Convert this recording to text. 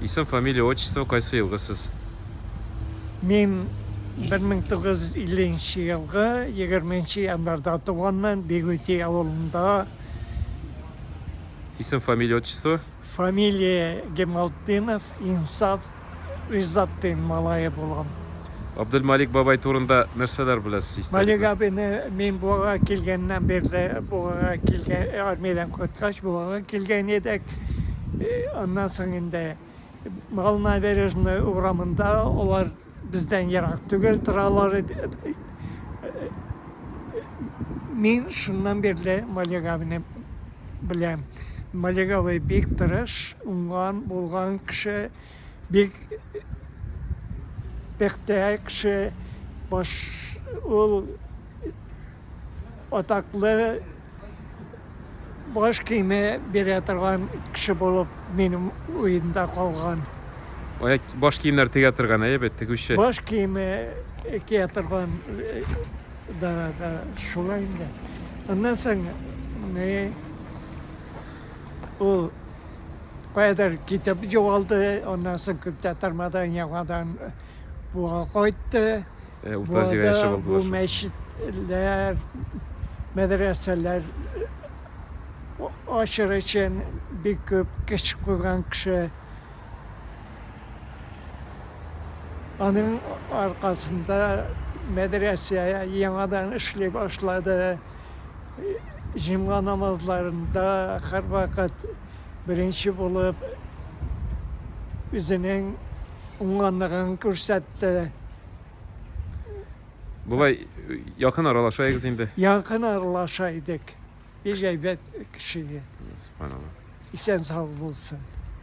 Исем, фамилия, отчество, кайсы елгы сез? Мин 1950 елгы 20 январда туганмын, Бигүти авылында. Исем, фамилия, отчество? Фамилия Гемалтдинов, Инсаф Гыйззаттин малае булам. Абделмалик бабай турында нәрсәләр беләсез, историк? Малик абыйны мин Буага килгәннән бирле, Буага килгән, армиядән кайткач, Буага килгән идек. Аннан соң инде Мал набережный урамында, алар бездән ерак түгел торалар иде. Мин шуннан бирле Малик абыйны беләм. Малик абый бик тырыш, уңган, булган кеше. Бик пөхтә кеше баш ул атаклы баш киеме бирә торган кеше булып минем уемда калган. Баш киемнәр тегә торган, әйе бит, тегүче. Баш киеме кия торган да, да шулай инде. Аннан соң ул Каядыр китеп югалды, аннан соң күп тә тормадан яңадан буа кайтты. Э, Урта Азиягә Буада яшәп алдылар бу шул. мәчетләр, мәдрәсәләр а- ачыр өчен бик күп көч куйган кеше. Аның аркасында мәдрәсә яңадан эшли башлады. җомга намазларында һәрвакыт беренче булып үзенең уңганлыгын күрсәтте. Болай якын аралашайыгыз инде. Якын аралаша идек. Бик әйбәт кеше. Субханалла. Исән сау булсын.